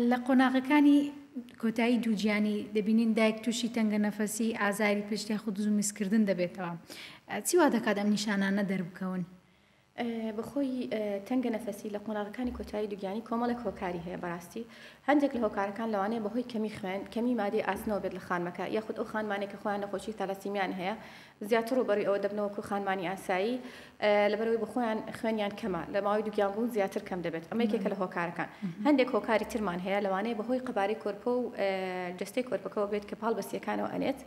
لە قۆناغەکانی کۆتایی دووگیانی دەبینین دایک تووشی تەنگەنەفەسی، ئازاری پشت یاخود دز و میزکردن دەبێتەوە. چی وا دەکات ئەم نیشانانە دەربکەون؟ بەخۆی تەنگەنەفەسی لە قۆناغەکانی کۆتایی دووگیانی کۆمەڵێک هۆکاری هەیە، بەڕاستی هەندێک لە هۆکارەکان لەوانەیە بەهۆی کەمی خوێن، کەمی مادەی ئاسنەوە بێت لە خانمەکە یاخود ئەو خانمانەی کە خۆیان نەخۆشی تالاسیمیایان هەیە زیاتر ڕووبەڕووی ئەوە دەبنەوە کە خانمانی ئاسایی لەبەرئەوەی بەخۆیان خوێنیان کەمە لە ماوەی دووگیانبوون زیاتر کەم دەبێت ئەمە یەکێکە لە هۆکارەکان هەندێک هۆکاری ترمان هەیە لەوانەیە بەهۆی قەبارەی کۆرپە و جەستەی کۆرپەکەەوە بێت کە پاڵ بەسییەکانەوە ئەنێت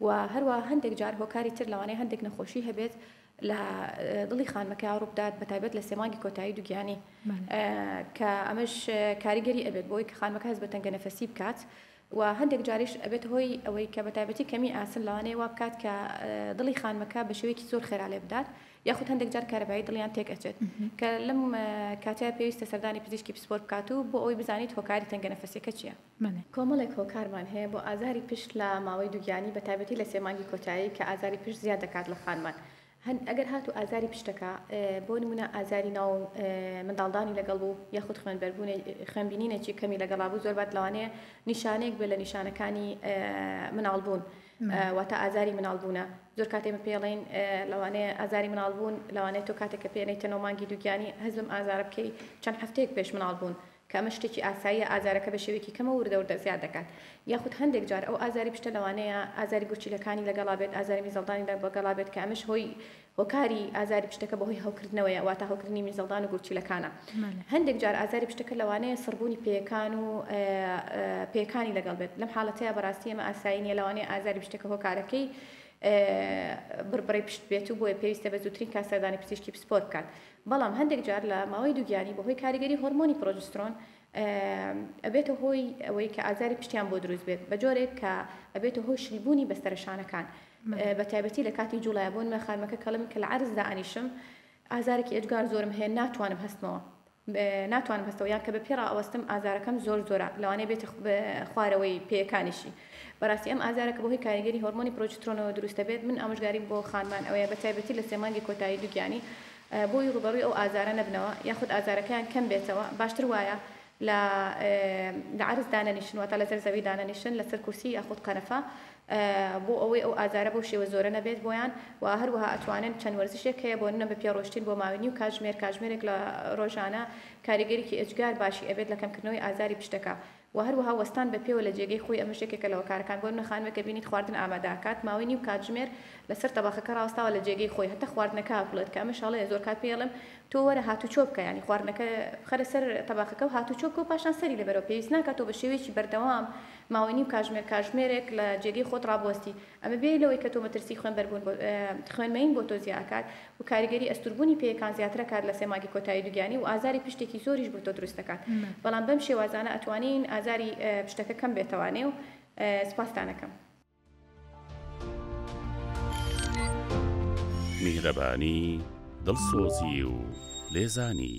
و هەروە هەندێک جار هۆکاری تر لەوانەیە هەندێک نەخۆشی هەبێت لە دڵی خانمەکە ڕووبدات بە تایبەت لە سێمانگی کۆتایی دوگیانی کە ئەمەش کاریگەری ئەبێت بۆی کە خانمەکە هەز بە تەنگە نەفەسی بکات و هەندێک جاریش ئەبێتە هۆی ئەوەی کە بەتایبەتی کەمی ئاسن لەوانەیە وا بکات کە دڵی خانمەکە بە شێوەیەکی زۆر خێرا لێ بدات یاخود هەندێک جار کارەبایی دڵیان تێک ئەچێت کە لەم کاتەیە پێویستە سەردانی پزیشکی پسپۆر بکات و بۆ ئەوەی بزانیت هۆکاری تەنگەنەفەسیەکە چییە. کۆمەڵێک هۆکارمان هەیە بۆ ئازاری پشت لە ماوەی دووگیانی بەتایبەتی لە سێ مانگی کۆتایی کە ئازاری پشت زیاد دەکات لە خانمان هەن ئەگەر هاتوو ئازاری پشتەکە بۆ نمونە ئازاری ناو منداڵدانی لەگەڵ بوو یاخود خوێنبەربوونێ خوێنبینینێکی کەمی لەگەڵا بوو زۆر بات لەوانەیە نیشانەیەک بێ لە نیشانەکانی مناڵبوون واتە ئازاری مناڵبوونە زۆر کاتێ من پێڵین لەوانەیە ئازاری مناڵبوون لەوانەیە تۆ کاتێکە پێێنەی تەنەوە مانگی دووگیانی هەزم ئازارە بکەی چەند هەفتەیەک پێش مناڵبوون کە ئەمە شتێکی ئاساییە ئازارەکە بە شێوەیەکی کەمەوە وردە وردە زیاد دەکات یاخود هەندێک جار ئەو ئازاری پشتە لەوانەیە ئازاری گورچیلەکانی لەگەڵا بێت ئازاری میزەڵدانی لەگەڵا بێت کە ئەمەش هۆی هۆکاری ئازاری پشتەکە بەهۆی هەوکردنەوەیە واتە هەوکردنی میزەڵدان و گورچیلەکانە هەندێک جار ئازاری پشتەکە لەوانەیە سڕبوونی پێیەکان و پێکانی لەگەڵ بێت لەم حاڵەتەیە بەڕاستی ئەمە ئاسایی نیە لەوانەیە ئازاری پشتەکە هۆکارەکەی بڕبڕی پشت بێت و بۆیە پێویستە بە زووترین کات سەردانی پزیشکی پسپۆر بکات بەڵام هەندێک جار لە ماوەی دووگیانی بەهۆی کاریگەری هۆرمۆنی پرۆجسترۆن ئەبێتە هۆی ئەوەی کە ئازاری پشتیان بۆ دروست بێت بە جۆرێک کە ئەبێتە هۆی شل بوونی بەستەرە شانەکان بە تایبەتی لە کاتی جوڵای بۆ نمە خانمەکە کەڵم کە لە عەرز دا ئەنیشم ئازارێکی ئێجگار زۆرم هەیە ناتوانم هەستمەوە ناتوانم هەستەوە یان کە بە پێ ڕائەوەستم ئازارەکەم زۆر زۆرە لەوانەیە بێتە خوارەوەی پێیەکانیشی. بەراستی ئەم ئازارە کە بەهۆی کاریگەری هۆرمۆنی پرۆجسترۆنەوە دروست دەبێت من ئامۆژگاریم بۆ خانمان ئەوەیە بە تایبەتی لە سێ مانگی کۆتایی دوگیانی بۆی ڕوبەڕوی ئەو ئازارە نەبنەوە یاخود ئازارەکەیان کەم بێتەوە باشتر وایە لە لە عەرز دانەنیشن واتە لەسەر زەوی دانەنیشن لەسەر کورسی یاخود قەنەفە بۆ ئەوەی ئەو ئازارە بەو شێوە زۆرە نەبێت بۆیان و هەروەها ئەتوانن چەند وەرزشێک هەیە بۆ نە بە پێ ڕۆشتین بۆ ماوەی نیو کاتژمێر کاتژمێرێک لە ڕۆژانە کاریگەریکی ئێجگار باشی ئەبێت لە کەمکردنەوەی ئازاری پشتەکە و هەروەها وەستان بە پێوە لە جێگەی خۆی ئەمەش یەکێکە لە هۆکارەکان بۆ نمە خانمێک کە بینیت خواردن ئامادە ئەکات ماوەی نیو کاتژمێر لەسەر تەبەخەکە ڕاوەستاوە لە جێگەی خۆی هەتا خواردنەکە ئەفڵێت کە ئەمەش هەڵەیە زۆر کات پێی ئەڵێم تۆ وەرە هاتوچۆ بکە یانی خواردنەکە بخەرە سەر تەباخەکە و هاتوچۆ بکە و پاشان سەری لێبەرەوە پێویست ناکات تۆ بە شێوەیەکی بەردەوام ماوەی نیو کاژمێر کاژمێرێک لە جێگەی خۆت ڕابوەستی ئەمە بێ لەوەی کە تۆ مەترسی خوێنبەربوون بۆ خوێن مەیین بۆ تۆ زیا ئەکات و کاریگەری ئەستوربوونی پێیەکان زیاتر ئەکات لە سێ مانگی کۆتایی دوگیانی و ئازاری پشتێکی زۆریش بۆ تۆ دروست ئەکات بەڵام بەم شێوازانە ئەتوانین ئازاری پشتەکە کەم بێتەوانێ و سپاستان ئەکەم. میهرەبانی، دڵسۆزی و لێزانی.